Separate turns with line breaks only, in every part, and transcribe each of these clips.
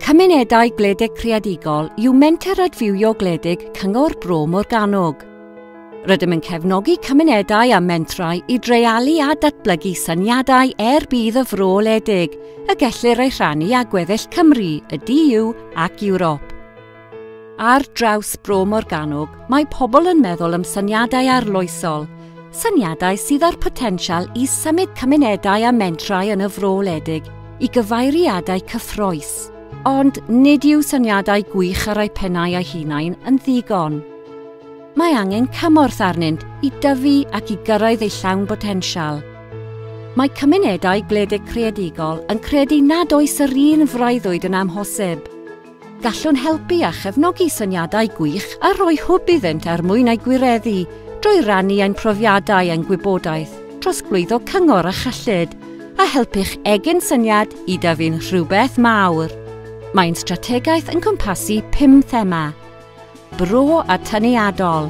Cymunedau Gwledig Creadigol yw Menter Adfywio Gwledig Cyngor Bro Morgannwg. Rydym yn cefnogi cymunedau a mentrau i dreialu a datblygu syniadau er bydd y fro ledig, y gellir ei rhannu â gweddill Cymru, y DU ac Ewrop. Ar draws Bro Morgannwg, mae pobl yn meddwl am syniadau arloesol, syniadau sydd â'r potensial i symud cymunedau a mentrau yn y fro wledig i gyfeiriadau cyffroes. Ond nid yw syniadau gwych ar eu pennau eu hunain yn ddigon. Mae angen cymorth arnynt i dyfu ac i gyrraedd eu llawn botensial. Mae cymunedau gwledig creadigol yn credu nad oes yr un freuddwyd yn amhosib. Gallwn helpu a chefnogi syniadau gwych a rhoi hwb iddynt er mwyn eu gwireddu drwy rannu ein profiadau a'n gwybodaeth, trosglwyddo cyngor a chyllid, a helpu'ch egin syniad i dyfu'n rhywbeth mawr. Mae'n strategaeth yn cwmpasu pum thema. Bro a Tyniadol.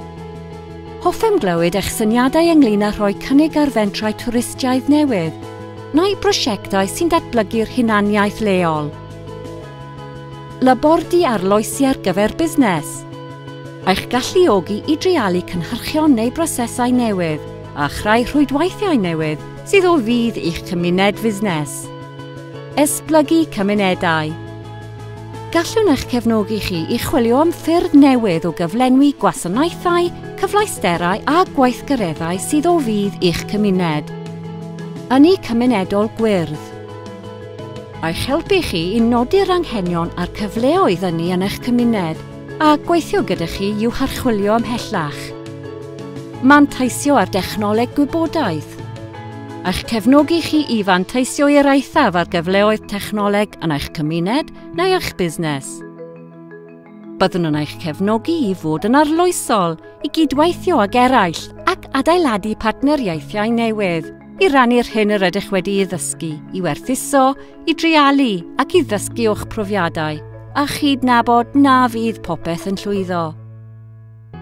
Hoffem glywed eich syniadau ynglyn â rhoi cynnig ar fentrau twristiaidd newydd, neu brosiectau sy'n datblygu'r hunaniaeth leol. Labordy arloesi ar gyfer busnes. Eich galluogi i dreialu cynhyrchion neu brosesau newydd a chreu rhwydweithiau newydd sydd o fudd i'ch cymuned fusnes. Esblygu cymunedau. Gallwn eich cefnogi chi i chwilio am ffyrdd newydd o gyflenwi gwasanaethau, cyfleusterau a gweithgareddau sydd o fudd i'ch cymuned. Ynni Cymunedol Gwyrdd Eich helpu chi i nodi'r anghenion a'r cyfleoedd ynni yn eich cymuned, A gweithio gyda chi i'w harchwilio ymhellach. Manteisio ar dechnoleg gwybodaeth. A'ch cefnogi chi i fanteisio i'r eithaf ar gyfleoedd technoleg yn eich cymuned neu eich busnes. Byddwn yn eich cefnogi i fod yn arloesol, i gydweithio ag eraill ac adeiladu partneriaethau newydd i rannu'r hyn yr ydych wedi'i ddysgu, i werthuso, i dreialu ac i ddysgu o'ch profiadau a chydnabod na fydd popeth yn llwyddo.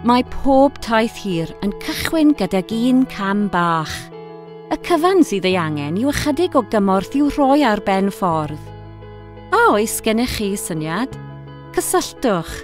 Mae pob taith hir yn cychwyn gydag un cam bach. Y cyfan sydd ei angen yw ychydig o gymorth i'w rhoi ar ben ffordd. A oes gennych chi syniad? Cysylltwch